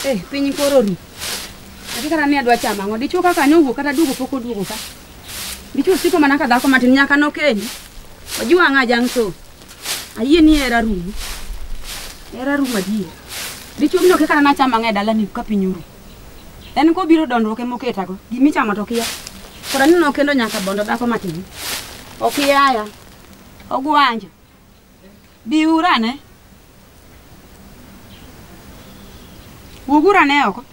Eh, piny koro ru. Ati kata ne adwa chama ngo dichuo kaka ne owuok kata duogo pok oduogo ka. Dichuo siko mana ka dhako matin nyaka nokendi. Ojiwa ng'a jang' so. Ayie ni hera rum. Hera rum adier. Dichwo biro kaka na chama ng'e dala ni ka piny uru. En ko biro dondruok e moketa go. Gimi chama to kia. Kora ni no kendo nyaka bondo dako matin. Okiyaya. Ogwanja. Biurane. Wuoguru ane oko.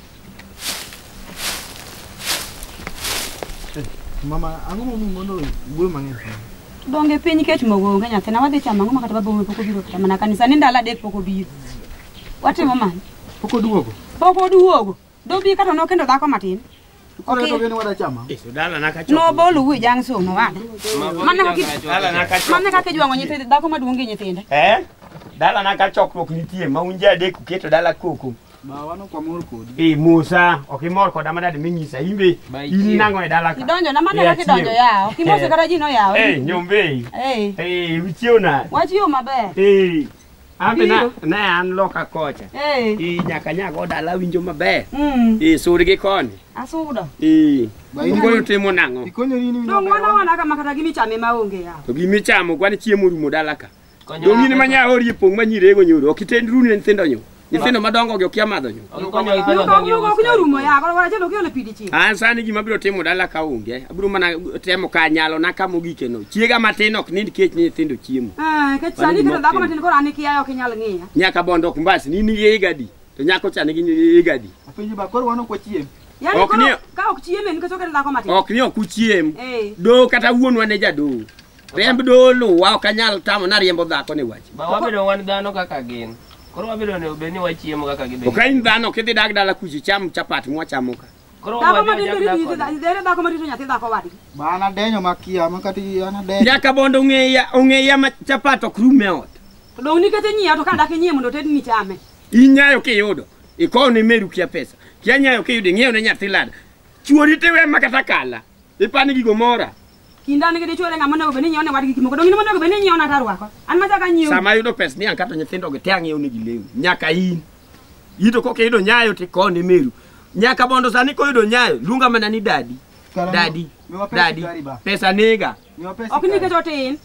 Mama, ang'o momiyo mondo wuoyo mang'eny kamano? Donge piny kech mogo onge nyathina wadhi chamo ang'o ma kata babowa pok obiro kata mana kanisa ni ndalo adek pok obiro. Watimo mano. Pok oduogo. Pok oduogo. Dobi kata nokendo dhako matin. Koro to gini wada chama. Dala na kacho. No bolu wi jang so no wada. Mana kaki Dala na kacho. Mana kaki jwango nyithindo dhako maduong' gi nyithinde. Eh? Dala na ka chokruok nitie ma unje adek uketo dala koko. Ba wano kwa mor kodi. Eh Musa, ok imor koda ma dad minyisa imbe. In nango e dala ka. Idonjo na mana kaki donjo yawo. Kimose kata ji no yawo. Eh nyombe. Eh. Eh wichiew na. Wachiyo maber. Eh. Ambe na, Biro. ne an loka kocha. Eh. I nyaka nyago dala winjo maber. Mm. I sur gi koni. Asudo. I. Ba in- Ngoro timo nang'o? Ikonyori in Dong wana wana kama kata gimichame maonge ya. To gimi chamo kwan chiemo rumo dala ka. Dong in manya ori pong manyirego nyoro. Ok itend rune nyithindo nyo. Nyithindo madongo gi okia madho nyo. Gikonyo gi pesa dongi Nyuka ok nyal rumo ya, koro wara chelo kiole pidi chi. An sani gima abiro timo dala ka onge. Abiro mana temo ka nyalo na kama ogike no. Chiega matin ok nind kech ni nyithindo chiemo. Eh, kech sani kata dhako matin koro an ikiya ok inyal ng'iya. Nyaka bondo ok mbasi ni ni igadi. To nyako chani gi igadi. Apenji ba koro wano kwa chiem. Yaani Ok koro ni- ka ok chieme nikech ok en dhako matin. Ok ni ok uchiem. Eh. Do kata wuonwa ne jadoo. Riemb dolo wa ok anyal tamo na riembo dhako ni wach. Ba wabedo wan dhano kaka gin. Koro wabedo ne obed ni wachiemo kaka gibedo. Ok in dhano kidhi dag dala kuchi cham chapat mwachamo ka. Koro Dhako ma wabedo dende jak rito dakoni. nyathi dhere dhako ma rito nyathi dhako wadgi. Ma an adenyo makia ma kata an adenyo. Nyaka bondo ong'eya ong'eya ma chapat ok rum e ot. To dong' nikete nyiewo to ka dak inyiewo mondo oted ni chame. Inyayo kiyudo. Ikowo ne meru kia pesa. Kia nyayo kiyudo ing'iew ne nyathi lada. Chuori tiwe ma kata kala. Ipani gigo mora. Kinda an gi dichwore ng'ama onego bed ni nyiewo ne wadgi gik moko donge in ema onego bed ni inyiewo na tarwako an ma chaka nyiewo sama ayudo pes ni ankato nyithindo gi te ang'iewo negi lewni nyaka in ito koka iyudo nyayo to ikone meru nyaka bondo sani koyudo nyayo luonga mana ni dadi Karang'o? dadi Miwa pesa dadi gari ba. pesa nega ok nikech otin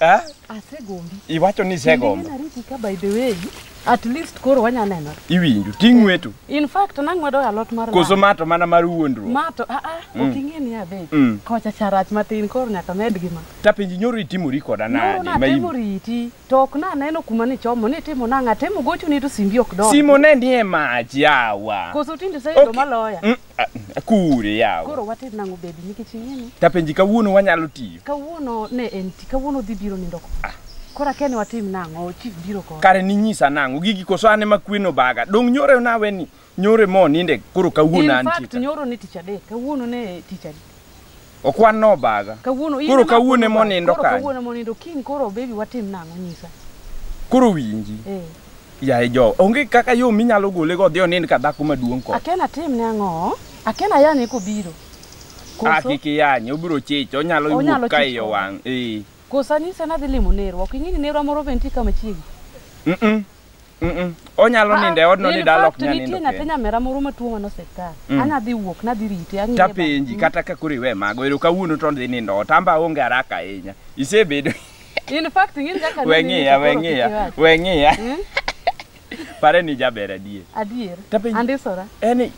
Ah, Asegombi. iwacho ni isegombo. Nena riti ka by the way. At least koro wanya neno. Iwinjo, ting' wetu. In fact nang'wedo alot mar Koso ma to mana mar wuondruok. ma to a a Mm. ok ing'e ni adhi. Mm. Kocha charach matin koro nyaka med gi ma. Tapenji nyoro itimori koda No, nade? Ma natemo in- riti to ok naneno kuma nichomo nitimo nang'a temo gochoni to simbi ok dong. Simo ne nie mach yawa. Koso tinde iseyudo maloya. Mm, A- Akure yawa. Koro watim nang'o baby nikech ing'eni Tapenji kawuono wanyalo tiyo. kawuono ne en ti kawuono dhi biro nindo ko. Koro akia ni watim nang'o chief biro ko. Kare ninyisa nang'o gigi koso ane ma kweno baga. Dong' nyore nawe ni nyore mo ninde koro kawuono In fact antie. nyoro ne tich adek kawuono ne tich adek. Okwan no obaga. Kawuono in Koro ema kawuono ema obaga. onindo Koro kanye? kawuono ema onindo kiny koro baby watim nang'o nyisa. Koro winji. Eh. Yaye jo, onge kaka yo minyalo gole go odhi onind ka dhako maduong' ko. Akena atim ne ang'o? Akena ayane kobiro. Ah, Koso kik iyanye, obiro chich, onyalo Onyalo wuok ka chich iye koda. wang'. Eh. koso anise nadhi limo nerwa. Ok ing'e ni nerwa moro be nitie kama chiegni. Mm-mm. Mm-mm. onyalo nindo e odno ni dala ok nyal nindo nitie nyathi kende. nyamera moro matuo mano osiptal Mm. anya dhi wuok nadhi rite ang'iye bang'. tapenji kata ka koro iwe mago ero kawuono to dhi nindo ot amba onge haraka ahinya isebedo in fact ing'eni kaka we nini ng'iya to we koro ng'iya kik iwach. we ng'iya Mm? pare ni jaber adier adier Tapenji- andisora en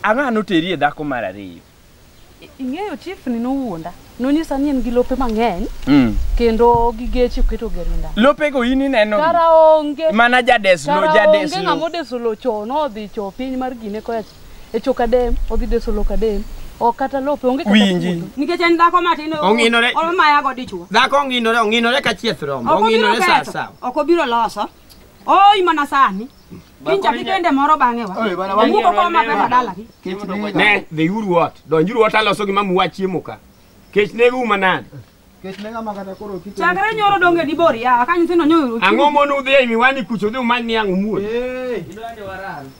ang'ano teri e dhako mar ariyo ing'eyo chief ni nowuonda nonyisa ni en gi lope mang'eny mm. kendo gi geche oketo gerinda lopego in ineno kara onge mana jadeslo jadeslo onge ng'ama odeso lo cho nodhi cho piny mar gine koya e choka dem odhi deso lo kadem ok kata lope onge kata winji nikech en dhako matin ong'inore olmayago dichwo dhako ong'inore ong'inore ka chieth rombo ong'inore sasa ok obiro loso Oi mana sani. Kincha gi dende moro bang'e wa. Oi, bana, wan- Wuko koma pesa dalagi. Kech nega. Ne, dhiuru ot. Donjuru ot aloso gima muwa chiemo ka. Kech negou manade. Kech nega ma kata koro kite. Chakre nyoro donge di bor ya. Ka nyithindo nyoro. Ang'o mono udhi e miwani kucho udhi umany ni ang' umuol. Eh,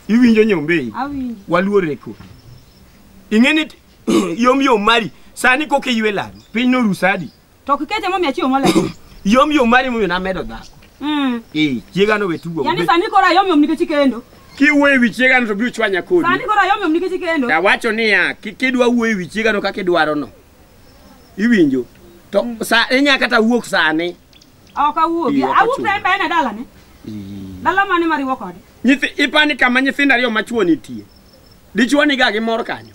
Iwinjo nyombei. Awinjo. Waluore ko. Ing'eni yom yom mari. Sani koka iywe laro. Piny norusadi. To ok ikete momiyo achiewo molewo. Yom yom mari momiyo namedo dhako. Mm. Eh, chiega no wetugo. Yaani sani koro ayom yom nikech ikendo. Kiwuoyo e wi chiega no to biro chwanya kodi. Sani koro ayom yom nikech ikendo. Awacho niya, kik idwa wuoyo e wi chiega no kaka idwaro no. Iwinjo? To mm. sa inya kata wuok sani. Ok awuok. Awuok sa embe ena dalane. Dala mane mariwo kode? Nyithi ipani kama nyithindo ariyo machuo nitie. Dichuo niga gi mor kanyo.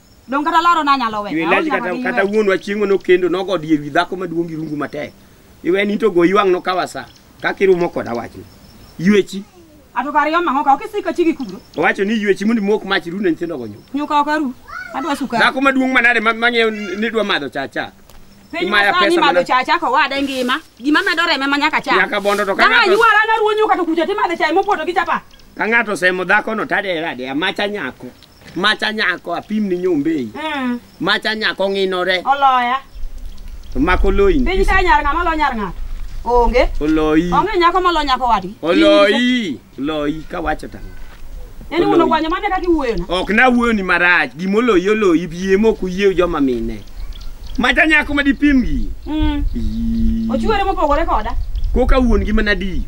Dong kata laro na nyalo we. Iwelaj kata kata wuon wa chiengo no kendo no god yewi dhako maduong gi rungu matek. Iwe ni to go iwang no kawasa. Kaki rumo kod awach ni. Yuechi. Ato kari yoma hoka oke sika chigi kubro. Owacho ni yuechi mundi mok mach ru ne ntindo go nyo. Nyuka okaru. Adwa suka. Dhako maduong manade mang'eyo ni dwa madho cha cha. Piny masani madho cha cha ko wade ngima. Gima medo reme ma nyaka cha. Nyaka bondo to kana. Kama yuara na ruonyo kata kuja timadhe cha mopoto gi chapa. Ka ng'ato semo dhako no tade rade amacha nyako. Macha nyako apim ni nyombei. Mm. Macha nyako ng'inore. Oloya. To mako loyi. Piny ka nyar ng'ama lo nyar ng'ato. Onge. Oloyi. Onge nyako ma lo nyako wadgi. Oloyi. Oloyi ka wacho tang'o. Yaani Oloyi. wuon ogwanyo mane kaka iwuoyo na. Ok na wuoyo ni marach. Gima oloyi oloyi bie mok uyie joma mine. Macha nyako ma dipim gi. Mm. Ii. Ochuere mopogore koda. Koka wuon gi mana di.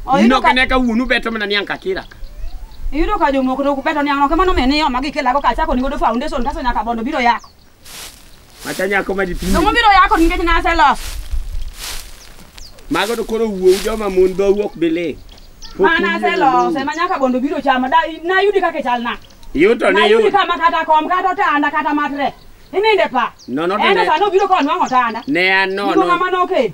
Oyudo Ino ka kane ka wuonu beto mana niang' kakira. Iyudo ka jomoko to kupeto niang' no kamano mene yo magi kelago ka chako nigodo foundation kaso nyaka bondo biro yako. Mata nyako ma dipinyi. Dongo biro yako nikech nase los. Mago to koro wuowu joma mon dho wuok bile. Mana se los ema nyaka bondo biro chama da na yudi kaka chal na. Yuto Na ni yudi yuto. kama kata kom kata otanda kata matre. Ininde pa. No, no, Enda ne- sano biro konwa otanda. Ne an Niko nono. kamano oke.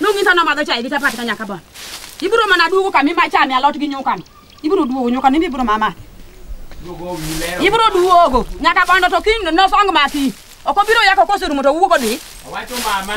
Nung insa no madho chai gi chapati ka nyaka bon. Ibiro mana duogo kama ima chame alot gi nyukano. Ibiro duogo nyukano imi ibiro mama. Ibiro duogo nyaka bondo to kiny no song mati. Ok obiro yako koserumo to wuogo dhi.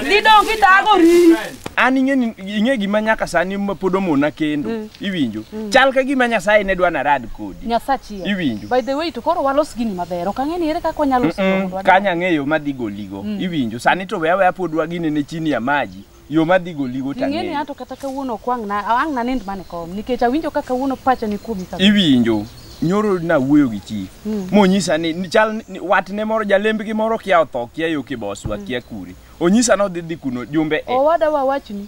Didong kitagori. an ing'e ni- ing'e gima nyaka sani ma pod omona kendo iwinjo chal ka gima nyasaye ne dwa narad kodi Nyasachi. Iwinjo. By the way to koro walos gini maber. Ok ang'e ni ere kaka wanyalo Mm, siko. kanya ng'eyo madhi goli goligo mm. iwinjo sani to weya weya pod wagine ne chini ya maji yo madhi goligo tang'eyo ing'eni ato kata kawuono ok wang' na ang' na nind mane kom nikech awinjo ka kawuono pacha ni kuomi sa iwinjo nyoro na wuoyo gi chief mm. monyisa ni chal watne moro jalembgi moro kia otho kia yo kiboswa mm. kia kuri onyisa ni odhi dhi kuno jumbe e. owada wawachni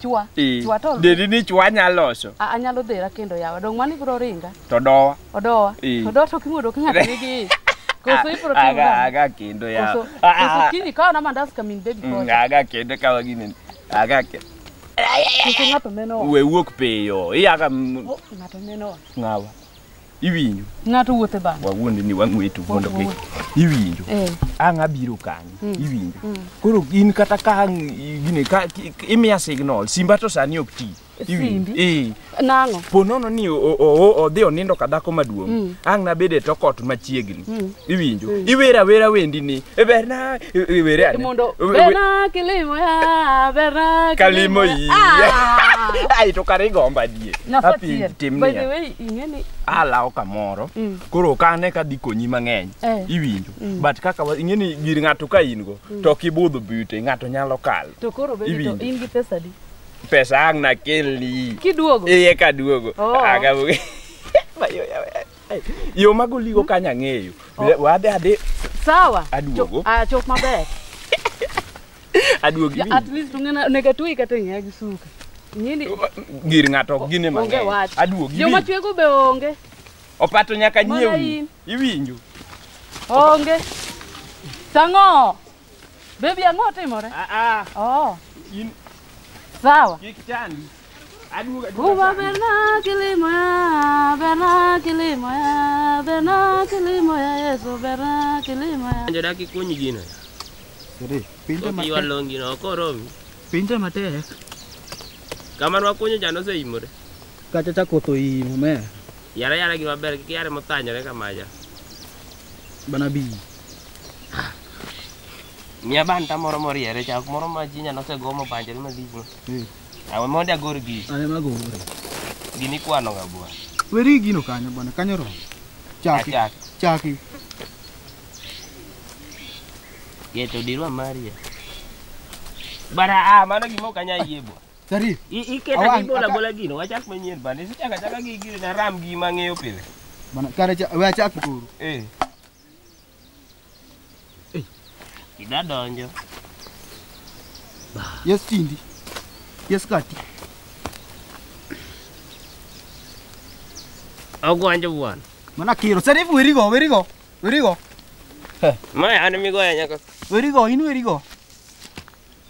Chwa. Ee. Chwa to. Dedi ni chwa nya loso. A- Anyalo dhera kendo yawa. Dong mani bro ringa. To dowa. Odowa. Ee. To dowa to kimuodo ok ng'at nigi. Koso ibro timo. Aga gang'o? aga kendo ya. Koso Ah, ah, koso ah. kini kawa na mandas kamin baby Mm, koso. Aga kendo kawa gini. Aga ke. Koso ng'ato meno. We wuok piyo. Iyaga m- Oh, Ng'ato meno. ngawa. iwinjo ng'ato wuotho e bando wawuondi ni wang'weto mondo gi iwinjo eh. ang' abiro kanyo mm. iwinjo mm. koro in kata ka ang' gine ka imiya signal simba to sani ok ti iwinjo eh. nang'o po nono ni odhi onindo ka dhako maduong' mm. ang' nabed e tokot machiegni iwinjo iwer awera wendi ni e berna e, e, were ane mondo berna kilimo ya berna kalimo iya ah. ai to kare gomba die api timni ing'eni alawo kamoro Mm. koro ok ane ka dhi konyi mang'eny Eh. iwinjo Mm. but kaka wa- ing'eni gir ng'ato ka in go to ok ibudho bute ng'ato nyalo kalo to koro bende to Iwinjo. in gi pesa di pesa ang' nakelni kiduogo iye ka duogo Oh. Aga- Ma yo- ya- yo mago ligo kanya ng'eyo wadhi adhi sawa Aduogo. Cho- ah, chop maber Aduogi. Ja, at least ung'ena onego atweyi kata ng'eya gi suka nyindi Gir ng'ato ok gine onge mang'eny. wach Aduogi. joma iwinjo? chwego be onge Opato nyaka Mana nyiew. in. Iwinjo. onge tang'o bebi ang'o otimore Ah ah. oh In sawa kik chandi. Uba berna kilimoya, berna kilimoya, berna kilimoya, Yesu berna kilimoya. Anjo daki kunyi gino. Siri, pinte Oki matek. walong gino oko romi. Pinte matek. Kamano wakunyo jano oseimore. Kacha cha koth oimo me. Yara yara gima ber kik yare mothanyore kamaja. Bana bi. Miya banta moro moriere chak moro ma ji nyalo osegomo panjore malich no. Awe mondo agor gi. Awe mago. Gini kwano ga bwana. Weri gino kanyo bwana, kanyo ro. Chaki. Chaki. Chaki. Yeto dirwa Maria. Bara a ah, mano gimo kanya yie bwana. Sari. Iketa gi bola bola gino, wachak manyien bwana. Isichaka chaka gi gino na ram gi mang'eyo pile. Bwana, kare cha, we achak kuru. Eh. Ida donjo. Yes tindi. Yes kati. Ogwanjo bwana. Mana kiro. Sasa hivi werigo, werigo. Werigo. Maya ana migoya nyaka. Werigo, inu werigo.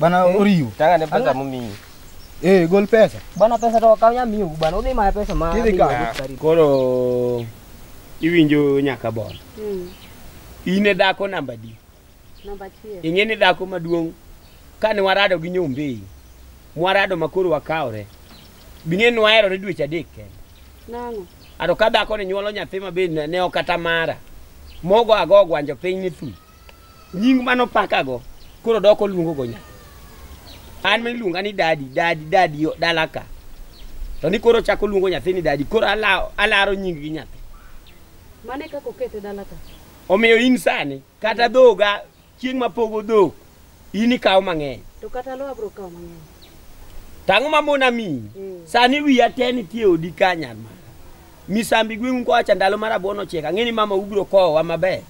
Bana Eh. oriwo. Tanga ne pesa mumiyi. Eh, gol pesa. Bana pesa to okaw nyamiyo bana udhi maya pesa ma. Kidhi kawo. Ah, Koro iwinjo nyaka bor. Mm. In e dhako namba di. Namba achiel. Ing'e ni dhako maduong' kane warado gi nyombei. Mwarado ma koro wakawre. Bing'e ni waherore dweche adek kende. Nang'o? Ato ka dhako ni nyuolo nyathi ma be ne ne ok kata mara. Mogo ago gwanjo piny ni thu. nying mano pakago koro doko luongo go nyaka an miluonga ni dadi dadi dadi dalaka to ni koro chako luongo nyathi ni dadi koro alaro, alaro nying gi nyathi mane kaka okete dalaka omiyo in sani kata dhoga chieng' mapogo dhok in ikawo mang'eny To kata lo abro kawo mang'eny. tang'o ma mon amiyi Mm. sani wiya te nitie odi ka nyar mara misambi gweng'u kowacha ndalo mar abwono chiek ang'e ni mama ubiro kowowa maber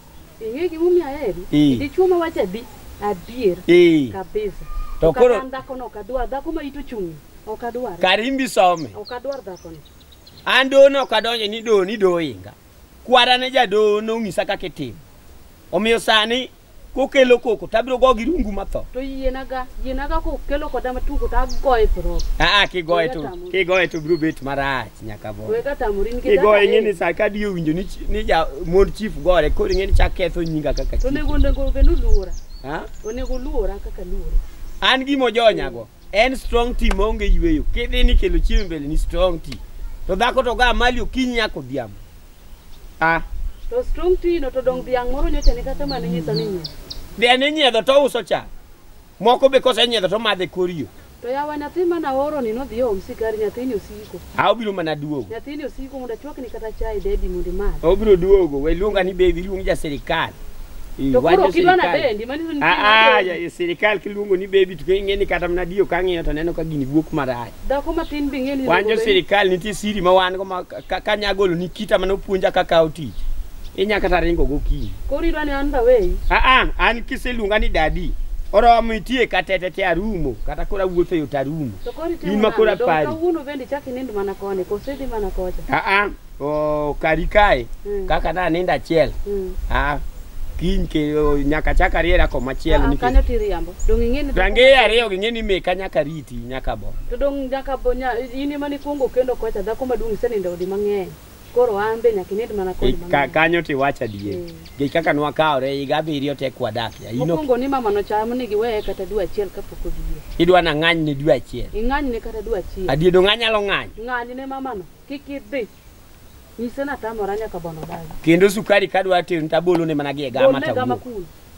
Ing'e gimomiyo aheri? Eh. Dichwo ma wacho adi? Adier. ee Kabisa. To koro- Kata an dhakono ok adwar. Dhako ma ito chung'ni. Ok adwar. karimbi some Ok adwar dhakono. an doho ne ok adonjo ni doho ni doho inga kwara ne jadoho nong'isa kaka itimo omiyo sani kokelo koko to abiro go gi rungu matho to yienaga yienaga kokelo koda matugo to agoye thro aa kigoye to kigoye to biro bet marach nyaka bo wega tamori nikech kigoye ing'e ni sa ka diyo winjo ni chi- ni ja mon chief gore koro ing'e ni chak ketho nyinga kaka to chief onego onego bed oluora ha onego oluora kaka luora an gimo jonyago En strong tea maonge yweyo. Kidhi ni kelo chiemo e mbele ni strong tea. To dhako to ga mali okinyi nyako dhiambo. Ah, To strong tea no to dong dhiang' moro nyocha ni kata mane nyisa ni nyie. dhiang' inyiedho to uso cha. Moko be kosenyiedho to madhe koriyo. To yawa nyathi mana oro ni nodhi oom sikari nyathini osiko. A obiro mana duogo. Nyathini osiko mondo achwakni kata chai baby mondo imadh. Obiro duogo. We luonga ni baby luong ja sirikal. To koro ok idwa na bendi, mani to nitie. Ah, ah, ja- sirikal kiluongo ni baby to ing'e ni kata mana diyo kang'iyo to neno ka gini wuok marach. Dhako matin be ing'e ni Wan jo iluongo baby. sirikal nitie siri ma wan go ma ka- ka- kanyagolo ni kita mana opuonja kaka otich. inya kata ringo gokinyi Koro idwa ni an daweyi. aa an kiseluonga ni dadi oromo itie katete te arumo kata koro awuotho e yo to arumo To koro itimo In ma koro nang'o? Dong' apari. Kawuono bende ichak inind mana koni, koso idhi mana kocha. aa o, kari kae Mm. kaka na nindo achiel Mm. aa kiny ke o, nyaka chak ariera koma chielo Ah, ah, Kanyo nikech tiriambo. Dong' ing'e ni range ariyo ging'e ni meka nyaka riti nyaka bo To dong' nyaka bo nya in ema nikuongo kendo kocha dhako maduong' isenindo odi mang'eny. Koro an be nyaka ined mana kod mama. Ka, kanyo to iwach adier mm. gi kaka nwakawore higa abiriyo tek wadakie ayino mokwongo ni mama nocham ni giweye kata dwe achiel kapok odie idwa na ng'any ne dwe achiel ing'any ne kata dwe achiel adiedo ng'anyalo ng'any ng'any ne mamano kik idhi nyise natamora nyaka bono dagi kendo sukari kadwa tero tabolone mana gi e gama tawuok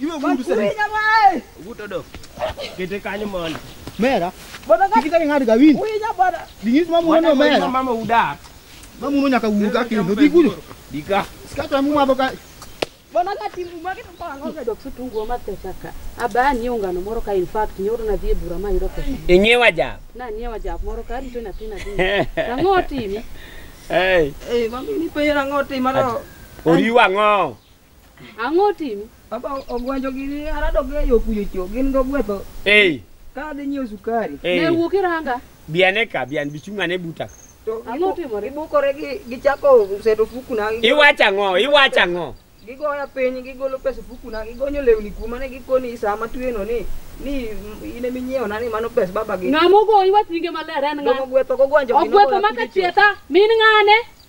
Iwe vudu sasa. Kuinya mwae. Vuto do. Kete kanyo mondo. Mera. Bwana kaka Kikita ng'ad ka win. kuinya bwana. Dingis ma muno Mwana mera. mama uda. Ma muno nyaka wuga kendo digudo. Dika. Skata mu madho ka. Bwana ka timu mwake to kwa ngoga dok sutungu ma pesa ka. Aba ni ungano moro ka in fact nyoro na dhie bura ma yiro pesa. Inyewa ja. Na ni wa jak moro ka rito na tina tina. Ang'o timi? Hey. Eh, mami ni pera ngote mano. Oriwa ngo. Ang'o timi? Baba ogwanjo gini arado ge yo kuyo cho gin go gwetho. Ei. Ka adhi nyiewo sukari. Ei. Ne wuok iranga. Biane ka bian bichung'ane buta. Ang'o timore? Ibukore gi gichako seto fuku na. Iwacha ng'o? Iwacha ng'o? Gigoya piny gigolo pesa fuku na gigonyo lewni kuma ne gikoni sama tweno ni ni ine minyiewo na ni mano pesa baba gi. Ng'amo go iwach nyinge maler en ng'a? Ng'amo gwetho go gwanjo. Ogwetho maka chieta min ng'ane?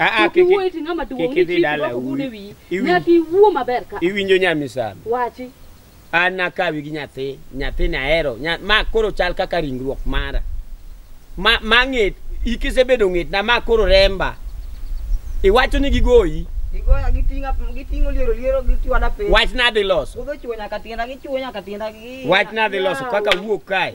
Aa, Kik iwuo iti ng'ama duong' kik ni idhi chik dala doko gud e uwi- wiyi. iwi- Nyaka iwuo maber ka. Iwinjo nyamisami. Wachi. An nakawi gi nyathi, nyathini ahero. Nya, ma koro chal kaka ringruok mara. Ma ma ng'et, ikisebedo ng'etna ma koro remba. Iwacho ni gigoyi, Gigoya gitinga gitingo liero liero gichwada piny. wachna adhi loso. Udho chuo nyaka tienda gichuo nyaka tienda gi. Wachna adhi loso kaka wuok kae.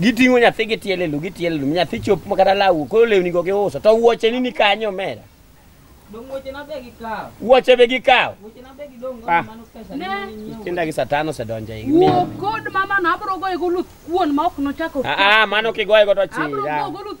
Giting'o nyathi gitiele lu gitiele lu nyathi chop ma kata lawu koro lewni go giuso to wuoche ni ni kanyo omera. Dong weche na be gi kawo. Wuoche be gikawo. Weche na be gi dong go Ah. mano pesa Ne. ni ni nyiewo. Tinda gi satan osedonjo e Wuo kod mama no abro goye go luth kuon ma ok nochako. Ah ah mano kigoye go to Abro chira. goye go luth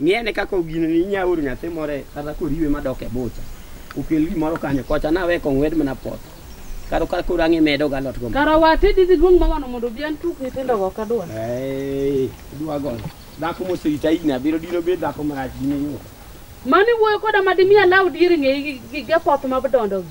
Ng'i ane kaka ogineni inya oro nyathi moro e- kata koriwe madok e bucha. Okel gimoro kanyo kocha nawe kong'wed mana poth. Karo kar koro ang'e medo galot go. Kara wate didhi duong' mawano mondo obi an tuk nyithindo go kadwa. Ee, idwa goyo. Dhako moserita higni abiriyo dino bed dhako marach dine yo. Mani wuoyo koda ma dimi alaw dier ng'eyi gi- gi gi apoth ma dondogi.